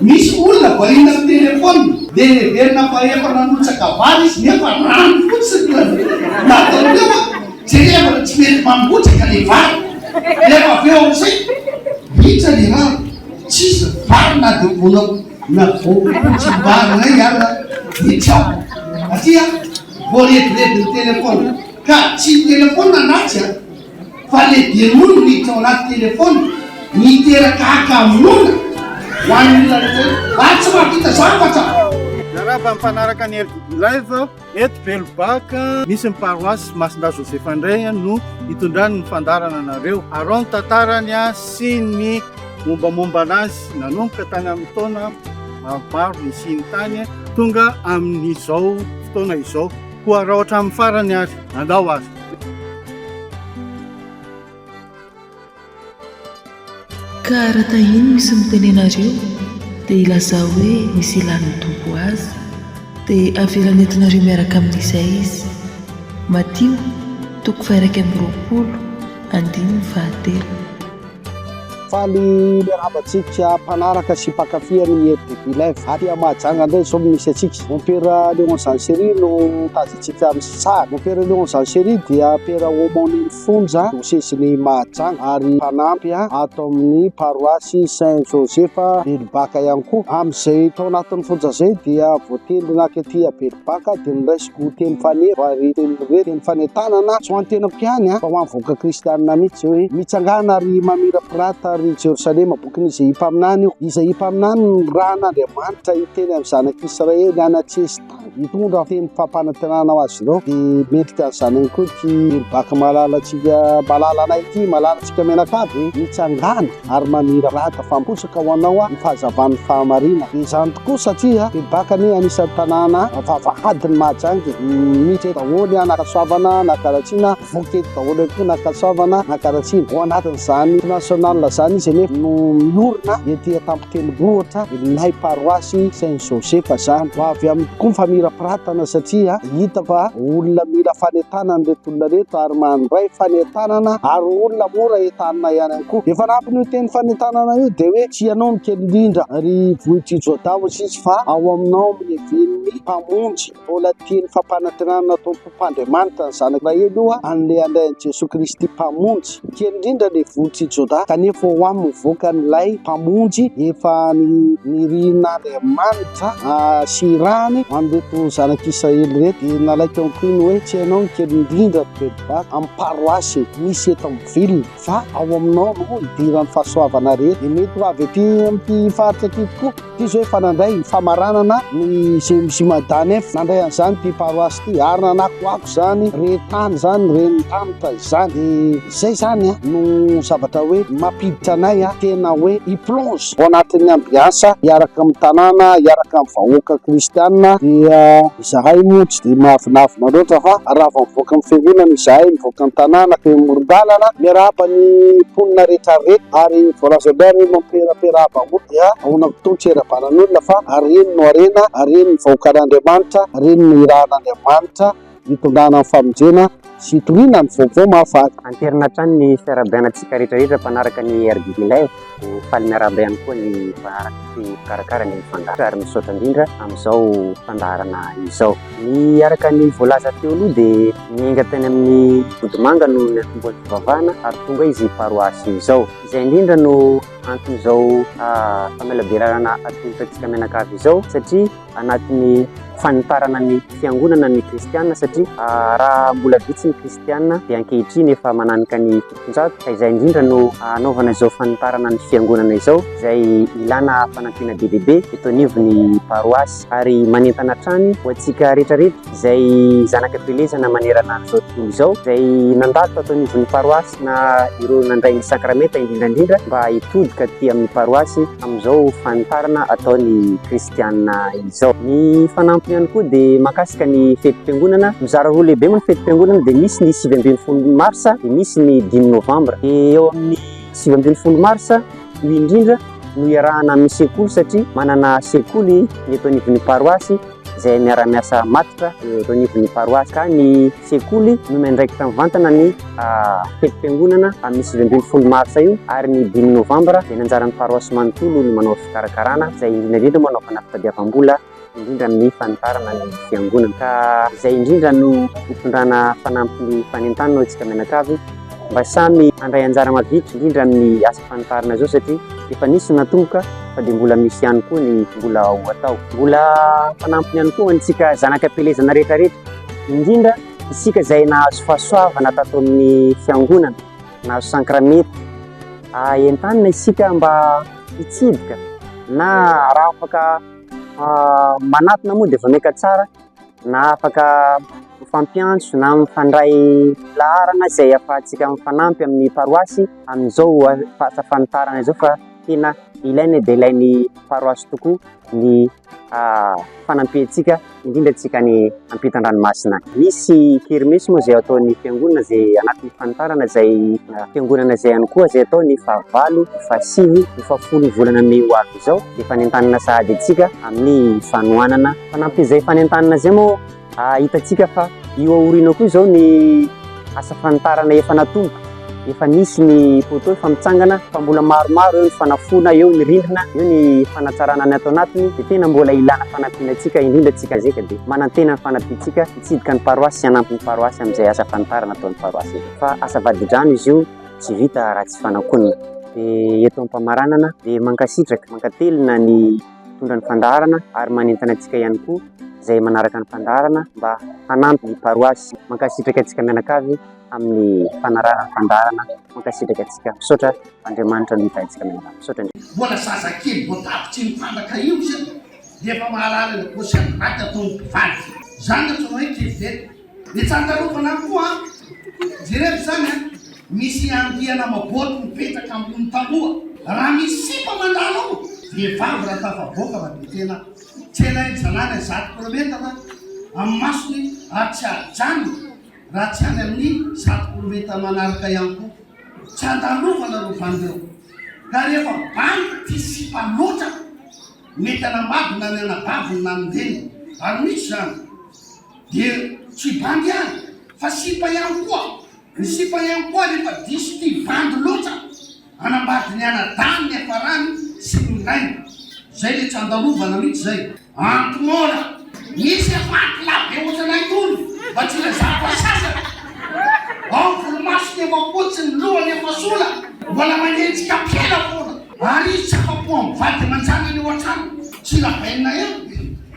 Misy olona variana amin'ny telephone dia heverina fa efa nanotsaka vary izy nefa rano fotsiny no natao teo an! Jerevana tsy mety mangotraka le vary nefa avy eo amin'izay ritra le rano tsisy vary na dia mbola navoakotsimbary indray aza dia tsy ao satria voarebirebin'ny telephone ka tsy ny telephone na tsy an! fa le dia noho ny miditra ao anaty telephone miteraka hakamoana ho an'ny olona rehetra ary tsy mahavita zavatra. Miarahaba mifanaraka ny RDB Live eto Belobac. Misy ny paroisse Masindahy Joseph indray no hitondrany ny fandaharana anareo. Araho ny tantarany sy ny mombamomba anazy nanomboka tany amin'ny taona maromaro nisiany tany tonga amin'izao fotoana izao. Koa rao hatramin'ny farany ary andao ary. Ka raha tahiny misy mitenena reo dia ilazao hoe misy ilan'ny Tompo azy dia avelany entinareo miaraka amin'izay izy. Matio toko faha iraika amby roapolo andininy fahatelo. Faly miarahaba antsika mpanaraka sy mpankafy ny RDB Live. Aty Mahajanga indray izao no misy antsika. Mompera Léon Jean Chéry no tazantsika amin'ny sary. Mompera Léon Jean Chéry dia mpera aumônier ny fonja diosezin'i Mahajanga ary mpanampy ato amin'ny paroasy Saint Joseph Belobaka ihany koa. Amin'izay tao anatin'ny fonja izay dia voatendry naka ety Belobaka dia niraisina. Ho teny faneva ary teny hoe teny fanentanana. Tsy ho an'ny tenako ihany fa ho an'ny vahoaka kristianina mihitsy hoe mitsangàna ry Mamirapirata ry Jerosalema, bokin'Izaia mpaminany io. Izaia mpaminany no nirahan'Andriamanitra hiteny amin'ny zanak'Israely any an-tsesitany hitondra teny fampanantenana ho azy ireo. Dia mendrika ny zanany koa ity Baka malalantsika malalanay ity, malalantsika mianakavy e! Mitsangàna. ary mamirapirata fampotsaka ho anao aho ny fahazavan'ny fahamarinana. Izany tokoa satria bebaka ny anisan'ny tanàna vavahadin'i Mahajanga e! Misy eto daholo an, Ankasoavana, Anakaratsiana, voky eto daholo ihany koa ny Ankasoavana, Anakaratsiana. Ao anatin'izany national izany izy anefa no miorina ety Antampotenibohitra, ilay paroasy Saint Joseph izany. Ho avy amiko koa ny famirapiratana satria hita fa olona mila fanentanana ireto olona ireto ary mandray fanentanana ary olona mora entanina ihany koa. tokoa. Efa anatiny teny fanentanana io dia hoe tsy ianao no kely indrindra ry vohitr'i Jodà Mosesy fa ao aminao amin'ny leven'ny Mpamonjy. Mbola teny fampanantenana nataon'ny Tompo Andriamanitra ny Zanaka Israely io a, an'ilay handray an'i Jesoa Kristy Mpamonjy. Kely indrindra ilay vohitr'i Jodà kanefa ho amin'ny mivoaka an'ilay Mpamonjy efa nirian'Andriamanitra hasehirahany an'ireto zanak'Israely ireto dia nalaiko ihany koa iny hoe tsy ianao no kely indrindra ry Velibata amin'ny paroasy misy eto amin'ny ville. Fa ao aminao no idiran'ny fahasoavana rehetra. Dia mety ho avy aty amin'ity faritra aty tokoa. Ity izao efa nandray ny famaranana ny CMJ Madanef. Nandray an'izany ity paroasy ity ary nanakoako izany re tany izany, ren'ny tanitra izany. Dia izay izany no zavatra hoe mampiditra anay tena hoe hi-plonge ao anatin'ny ambiansa hiaraka amin'ny tanàna, hiaraka amin'ny vahoaka kristiana dia. Izahay moa tsy dia mahavinavina loatra fa raha vao mivoaka ny fiangonana izahay, mivoaka ny tanàna, teo amoron-dalana, miarahaba ny mponina rehetra reto ary voalazan'ny Ray hoe mampieraperahaba moa dia ahoana koa toa ny tsy hirabanan'olona fa ary ireny no harena, ary ireny no vahoakan'Andriamanitra, ary ireny no nirahan'Andriamanitra hitondrana ny famonjena. sy toriana amin'ny vaovao mahafaly. Anterina hatrany ny fiarahabainantsika rehetrarehetra mpanaraka ny RDB Live. Ho faly miarahaba ihany koa ny mpanaraka sy mpikarakara ny fandaharana ary misaotra indrindra amin'izao fandaharana izao. Ny araka ny voalaza teo aloha dia niainga tany amin'ny Vodimanga no niantombohan'ny fivavahana ary tonga izy paroasy izao. Izay indrindra no anton'izao famelabelarana atolotra antsika mianakavy izao satria. anatin'ny fanitarana ny fiangonana ny kristianina satria ah, raha mbola vitsy ny kristianina dia ankehitriny efa mananika ny fitonjato ka izay indrindra no anaovana izao fanitarana ny fiangonana izao izay ilana fanampiana be dia be eto anivon'ny paroasy ary manentana hatrany ho antsika rehetrarehetra izay zanaka felezana manerana an'izao tontolo izao izay nandalo tato anivon'ny paroasy na ireo nandray ny sakramenta indrindraindrindra mba hitodika aty amin'ny paroasy amin'izao fanitarana ataon'ny kristianina Afrikana izao. Ny fanampiny ihany koa dia makasika ny fetim-piangonana. Mizara roa lehibe moa ny fetim-piangonana dia misy ny sivy ambin'ny folo marsa dia misy ny dimy novambra. Dia eo amin'ny sivy ambin'ny folo marsa io indrindra no iarahana amin'ny sekoly satria manana sekoly ny eto anivon'ny paroasy izay miara-miasa matotra eto anivon'ny paroasy ka ny sekoly no miandraikitra mivantana ny ah, fetim-piangonana amin'ny sivy ambin'ny folo marsa io ary ny dimy novambra dia ny anjaran'ny paroasy manontolo ny manao fikarakarana izay indrindra indrindra moa anaovana fitadiavam-bola indrindra amin'ny fanitarana ny fiangonana ka izay indrindra no hitondrana fanampin'ny fanentanana hoy isika mianakavy mba samy handray anjara mavidy indrindra amin'ny asa fanitarana izao satria efa nisy natomboka fa dia mbola misy ihany koa ny mbola ho atao mbola fanampiny ihany koa antsika zanaka pelezana rehetrarehetra indrindra isika izay nahazo fahasoavana tato amin'ny fiangonana nahazo sankramety. Entanina isika mba hitsidika na raha afaka manatona moa dia voneka tsara na afaka mifampiantso na mifandray laharana izay ahafahantsika mifanampy amin'ny paroasy amin'izao asa fanitarana izao fa tena ilaina dia ilain'ny paroasy tokoa ny ah, fanampiantsika indrindra antsika ny ampitan-dranomasina. Misy kermesy moa izay ataon'ny fiangonana izay anatin'ny fanitarana izay ah, fiangonana izay ihany koa izay atao ny fahavalo, ny fahasivy, ny fahafolo volana mey ho avy izao dia fanentanana sahady antsika amin'ny fanohanana. Fanampin'izay fanentanana izay moa Hitantsika fa io aoriana koa izao ny asa fanitarana efa natomboka, efa nisy ny poteau efa mitsangana fa mbola maromaro eo ny fanafoana, eo ny rindrina, eo ny fanatsarana ny ato anatiny dia tena mbola ilana fanampiana antsika indrindra antsika zeka dia manantena ny fanampiantsika hitsidika ny paroasy sy hanampy ny paroasy amin'izay asa fanitarana ataon'ny paroasy eto fa asa vadidrano izy io tsy vita raha tsy fanakoana dia eto am-pamaranana dia mankasitraka, mankatelina ny mpitondra ny fandaharana ary manentana antsika ihany koa izay manaraka ny fandaharana mba hanampy ny paroasy. Mankasitraka antsika mianakavy amin'ny fanarahana ny fandaharana. Mankasitraka antsika. Misaotra Andriamanitra nahita antsika mianakavy. Misaotra Andriamanitra. Mbola zazakely vao tapitry ny trandraka io isika dia efa mahalala ilay paosy andry maty ataon'ny mpivady. Izany no antsoina hoe kivy veta. Ny tsantarovana any koa an! Jereo izany an! Misy andiana maboty mipetraka ambony tamboha. Raha misy sipa mandalo ao, vehivavy raha tafavoaka fa dia tena tsenain'ny zanany zato kilometatra amin'ny masony ary tsy ajanony raha tsy any amin'ny zato kilometatra manaraka ihany koa. Tsantarovana ireo bandy ireo. Ka rehefa bandy tia sipa loatra, mety hanambady na ny anabaviny na ny reniny. Ary misy izany. Dia tsy bandy ihany fa sipa ihany koa, ny sipa ihany koa rehefa diso tia bandy loatra, hanambady ny anadahy ny hiafarany sy ny ilainy. Zay le tsandarovana mitsy zay. Anty mora. Misy efa anty labe otranay tony mba tsy ilazako asasany. Ao volomasony efa fotsy ny lohany efa sola mbola manenjika ampela fona. Ary izy tsy afa-po amin'ny vady aman-janany ao an-trano. Tsy labainina ihany.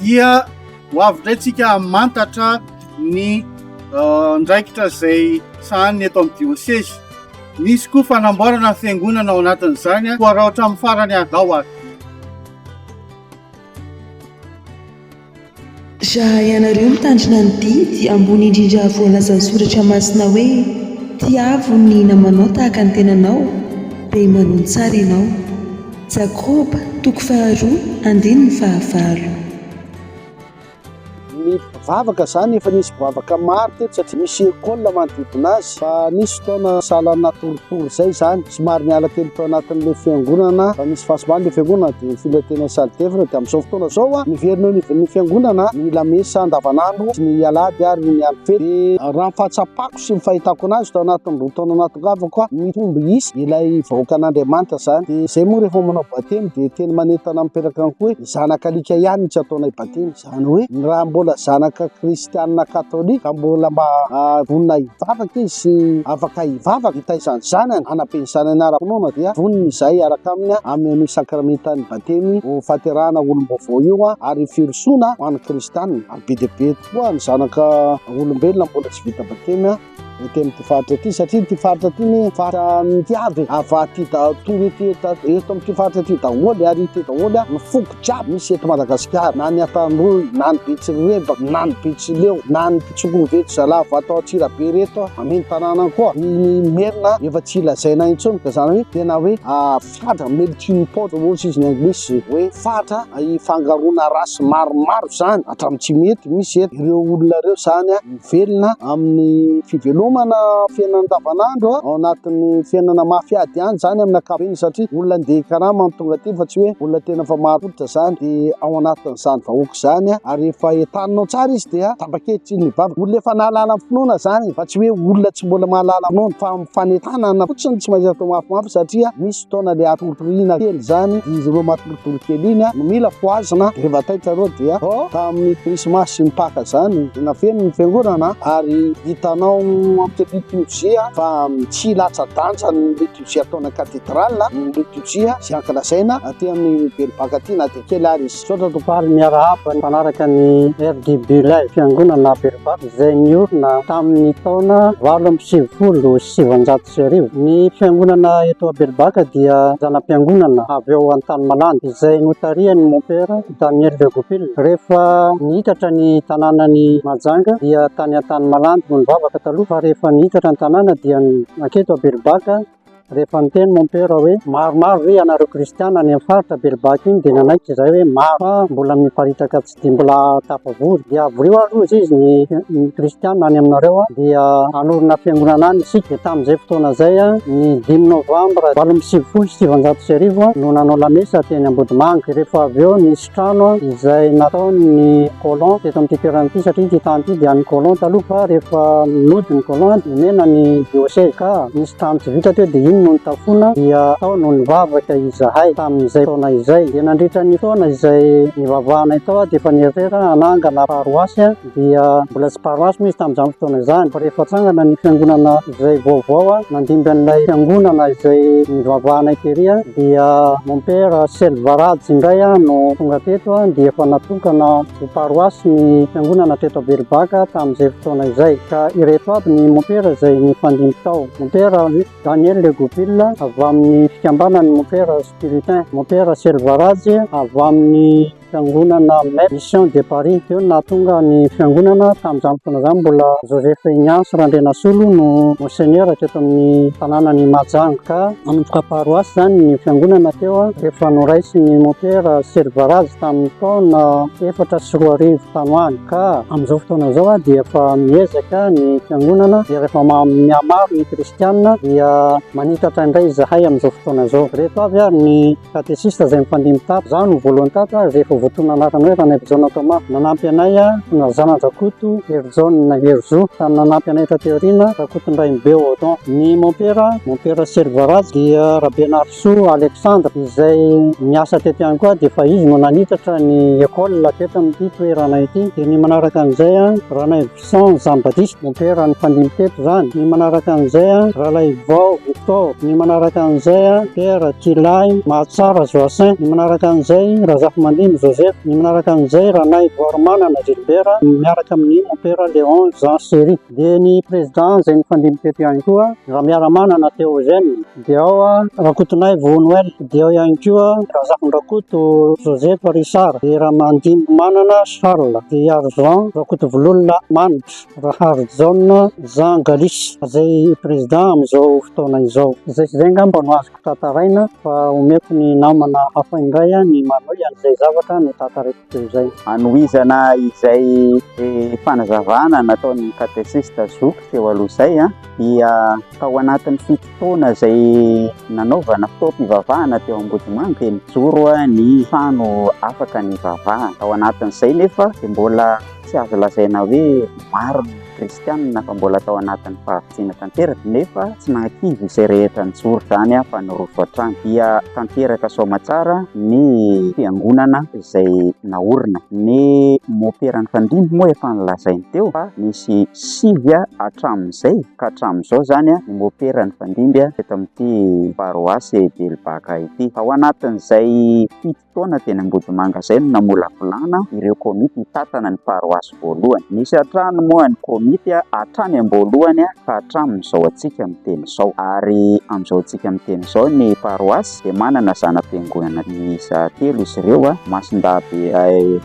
dia ho avy indray tsika hamantatra ny andraikitra izay sahaniny eto amin'ny diosezy. Nisy koa fanamboarana ny fiangonana ao anatin'izany, koa raha hatramin'ny farany adao ary. Raha ianareo mitandrina ny didy ambony indrindra voalazan'ny Soratra Masina hoe, Tiavo ny namanao tahaka ny tenanao, dia manohy tsara ianao. Jakoba, toko faharoa, andininy fahavalo. Ny mpivavaka izany efa nisy mpivavaka maro teto satria misy école manodidina azy fa nisy fotoana sahala ny natoritory izay izany somary niala kely tao anatin'ilay fiangonana fa nisy fahasimbana ilay fiangonana dia nifindra teny amin'ny salle d'œuvre dia amin'izao fotoana izao a miverina eo anivon'ny fiangonana ny lamesa andavanandro sy ny alahady ary ny andro fety dia raha ny fahatsapako sy ny fahitako anazy tao anatin'ny roa taona natongavako aho mitombo isa ilay vahoakan'Andriamanitra izany dia izay moa rehefa manao batemy dia teny manentana miteraka ny koe zanaka alika ihany tsy ataonay batemy izany hoe ny raha mbola zanaka kristianina katolika ka mbola mba ah, vonona hivavaka izy sy afaka hivavaka hitaizany zanany hanapeny zanany ara-pinoana dia vonona izay araka aminy amin'ny an'io sakramentan'ny batemy ho faterahana olom-baovao io ary firosoana ho an'ny kristianina ary be dia be koa ny zanaka olombelona mbola tsy vita bakemy a ety amin'ity faritra ity satria ity faritra ity ny faritra mity avy avaty daholo ety eto amin'ity faritra ity daholo ary ity daholo a ny foko jiaby misy eto Madagasikara na ny Antanimboly na ny Betsirebaka na ny Betsileo na ny Mpitsokoveto Zalahy Vatao Antsirabe reto a amin tanàna koa ny Merina efa tsy lazaina intsony ka zany hoe tena hoe Fatra, melting pot hoy izy ny anglisy, hoe fatra ifangaroana race maromaro izany hatramin'ny tsy mety misy eto. Ireo olona ireo izany mivelona amin'ny fivelomana fiainana andavanandro ao anatin'ny fiainana mafy ady ihany izany amin'ny ankapobeny satria olona handeha hikarama no tonga aty fa tsy hoe olona tena efa marim-pototra izany dia ao anatin'izany vahoaka izany ary efa entaninao tsara izy dia tapa-kevitra iny mivavaka. Olona efa nahalala ny finoana izany fa tsy hoe olona tsy mbola mahalala finoana fa fanentanana fotsiny tsy maintsy atao mafimafy satria misy fotoana le atoritoriana kely zany izy ireo matoritory kely iny no mila fohazina rehefa taitra reo dia oh tamin'ny krismasy sy ny paka zany tena feno ny fiangonana ary hitanao amin'ny liturgie fa tsy latsa-danja ny liturgie ataon'ny katedrale ny liturgie sy ankalazaina aty amin'ny belobaka aty na dia kely ary izy Misaotra Dobary Miarahaba mpanaraka ny RDB Live, fiangonana Aberovato izay niorina tamin'ny taona valo amby sivifolo sy sivanjato sy arivo. Ny fiangonana eto Aberobaka dia zana-piangonana avy ao Antanimalandy izay notarihan'ny Mompera Daniel de Goupil. Rehefa niitatra ny tanànan'i Mahajanga dia tany Antanimalandy no nivavaka taloha fa rehefa niitatra ny tanàna dia naketo Aberobaka. Rehefa niteny mon père hoe maromaro ve ianareo kristiana any amin'ny faritra Belbaka iny dia nanaiky izahay hoe maro fa mbola miparitaka tsy dia mbola tafavory dia avoriho ary hoy izy ny ny kristiana any aminareo dia hanorina fiangonana any isika dia tamin'izay fotoana izay ny dimy novambra valo amby sivifolo sy sivinjato sy arivo no nanao lamesa teny Ambodimanga dia rehefa avy eo ny trano izay nataon'ny colon teto amin'ity toerana ity satria ity tany ity dia an'ny colon taloha fa rehefa nody ny colon dia omena ny diocèse ka nisy trano tsy vita teo dia iny no nitafoana dia tao no nivavaka izahay tamin'izay taona izay dia nandritra ny taona izay nivavahanay tao aho dia efa nieritreritra hanangana paroasy dia mbola tsy paroasy moa izy tamin'izany fotoana izany fa rehefa tsangana ny fiangonana izay vaovao nandimby an'ilay fiangonana izay nivavahana tery dia mon père Selvarajy indray no tonga teto dia efa natokana ho paroasy ny fiangonana teto Belovac tamin'izay fotoana izay ka ireto aby ny mon père izay nifandimby tao mon père Daniel Legoupil avy amin'ny fikambanan'ny mon père Spiritain mon père Selvarajy avy amin'ny Fiangonana Mette Mission de Paris teo no nahatonga ny Fiangonana. Tamin'izany fotoana izany mbola Joseph Ignace Randrianasolo no Monseigneur teto amin'ny tanànan'i Mahajanga. Ka nanomboka paroasy izany ny Fiangonana teo rehefa noraisin'ny Mompera Servarazy tamin'ny taona efatra sy roa arivo tany ho any. Ka amin'izao fotoana izao dia efa miezaka ny Fiangonana dia rehefa mihamaro ny Kristiana dia manitatra indray izahay amin'izao fotoana izao. Ireto avy ary ny. Katesista izay mifandimby tato. Izaho no voalohany tato ary izay efa voatonona anarana hoe Ranaivojaona Thomas. Nanampy anay ry zana-dRakoto Herijaona, Herizo, ka ny nanampy anay taty aoriana, Rakotondrainibe Odon. Ny mompera, mompera Selvaraj, dia Rabenarisoa Alexandre, izay niasa teto ihany koa dia efa izy no nanitatra ny école teto amin'ity toerana ity. Dia ny manaraka an'izay, Ranaivojaona. Jean Jean Baptiste Mompera nifandimby teto izany, ny manaraka an'izay an, Ralaivao Victor, ny manaraka an'izay an, Pierre Tilahy, Mahatsara Joacin, ny manaraka an'izay Razafimandimby Joseph, ny manaraka an'izay Ranaivoarimanana Gilbert miaraka amin'ny Mompera Léon Jean Chery. Dia ny Président izay nifandimby teto ihany koa, Ramiaramanana Théogène. Dia ao Rakotonay Vo Noel, dia ao ihany koa Razafindrakoto Joseph Richard, dia Ramandimby Manana Charles, dia Ihary Jean Rakotovololona Manitra, Rahary Jaona Jean Galis, izay président amin'izao fotoana izao. Izay sy izay angamba no azoko tantaraina fa omeko ny namana hafa indray ny manohy an'izay zavatra notantaraiko teo izay. Hanohizana izay fanazavana nataon'ny katesista zoky teo aloha izay. dia tao anatin'ny fito taona izay nanaovana fotoam-pivavahana teo Ambodimanga dia nijoro ny trano afaka nivavahana. Ao anatin'izay nefa dia mbola tsy azo lazaina hoe maro ny kristianina fa mbola tao anatin'ny fahavitsiana tanteraka nefa tsy nahakivy izay rehetra nijoro izany fa nirofo hatrany. Dia tanteraka Soamatsara ny fiangonana izay naorina. Ny moperan'ny Fandimby moa efa nolazainy teo fa nisy sivy hatramin'izay ka hatramin'izao izany ny mopera nifandimby teto amin'ity paroasy Belobaka ity. Tao anatin'izay fito taona teny Ambodimanga izay no namolavolana ireo komity hitantana ny paroasy voalohany. Nisy hatrany moa ny komity hatrany am-boalohany ka hatramin'izao antsika miteny izao. Ary amin'izao antsika miteny izao ny paroasy. dia manana zana-piangonana miisa telo izy ireo, Masindabe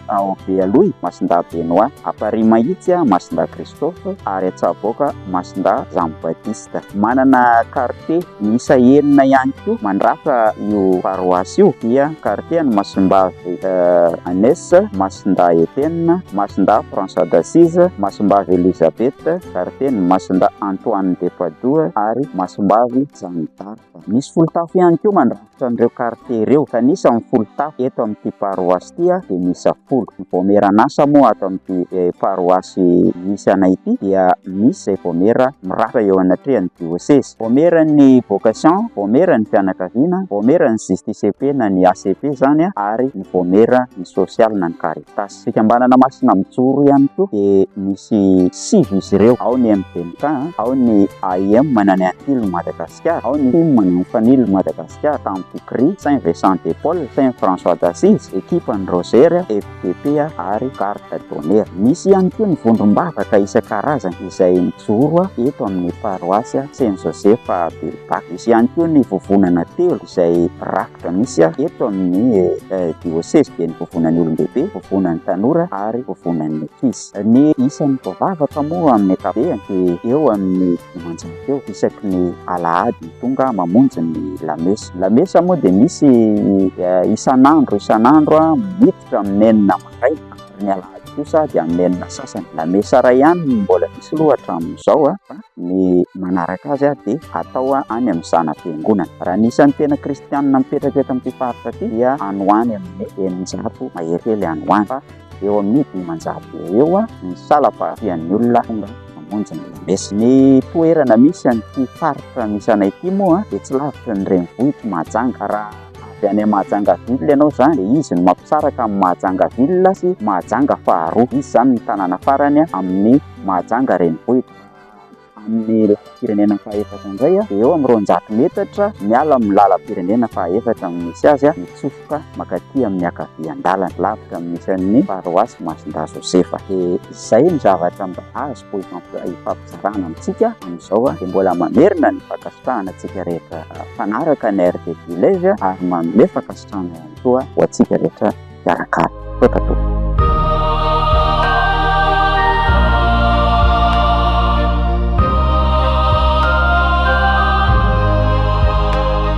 ao Bealoy, Masindabe Noa, Amparimahitsy, Masindahy Christophe, ary Antsaboka, Masindahy Jean Baptiste. Manana kartie miisa enina ihany koa mandrafitra io paroasy io, dia kartie an'i Masimbavy Agnès, Masindahy Etienne, Masindahy François d'Assise, Masimbavy Elisabeth, kartie an'i Masindahy Antoine de Padoue ary Masimbavy Jeanne d'Arc. Misy folotafo ihany koa mandrafitra an'ireo kartie ireo, ka ny isan'ny folotafo eto amin'ity paroasy ity dia miisa folo. Ny vaomieran'asa moa ato amin'ity paroasy misy anay ity dia misy izay vaomiera mirafitra eo anatrehan'ny diosezy. Vaomieran'ny vocation, vaomieran'ny fianakaviana, vaomieran'ny JSTCP na ny ACP izany ary ny vaomieran'ny sosialy na ny Caritas. Fikambanana Masina Mijoro ihany koa dia misy sivy izy ireo, ao ny MDMK, ao ny AIM Manani Antilo Madagasikara, ao ny Tim Manani Fanilo Madagasikara, Tam Pikri, Saint Vincent de Paul, Saint François d'Assise, Ekipan'ny Rozery, FDP ary Garde d'Honneur. Misy ihany koa ny vondrom-bavaka isan-karazany izay mijoro eto amin'ny paroasy Saint Joseph Belbaka. Misy ihany koa ny vovonana telo izay ra. Dia misy aho eto amin'ny diôsezy ben'ny vovonan'ny olon-dehibe, vovonan'ny tanora ary vovonan'ny ankizy. Ny isan'ny voavavaka moa amin'ny ankapobeny dia eo amin'ny dimanjato eo isaky ny alahady tonga mamonjy ny lamesa. Ny lamesa moa dia misy isan'andro isan'andro miditra amin'ny enina maraina. Ary ny alahady kosa dia hamelona sasany. La mesa iray ihany no mbola misy aloha hatramin'izao fa ny manaraka azy dia hatao any amin'ny zana-piangonana. Raha ny isan'ny tena kristianina mipetraka eto amin'ity faritra ity dia any ho any amin'ny eninjato mahery kely any ho any fa eo amin'ny dimanjato eo ho eo ny salam-pahafian'ny olona tonga mamonjy ny la mesa. Ny toerana misy an'ity faritra misy anay ity moa dia tsy lavitry ny renivohitr'i Mahajanga raha Avy any Mahajanga ville ianao zany dia izy no mampisaraka an'i Mahajanga ville sy Mahajanga faharoa. Izy zany no tanàna farany amin'ny Mahajanga renivohitra. Amin'ny lalam-pirenena fahaefatra indray dia eo amin'ny roanjato metatra miala amin'ny lalam-pirenena fahaefatra no misy azy mitsofoka mankaty amin'ny ankavian-dalana. Lavitra amin'ny isan'ny paroasy Masindahy Josefa. Dia izay ny zavatra mba azoko ifampiresahana. Fitsarana amintsika amin'izao dia mbola mamerina ny fankasitrahana antsika rehetra mpanaraka ny RT Village ary manome fankasitrahana ihany koa ho antsika rehetra mpiarakara. Misaotra tompoko.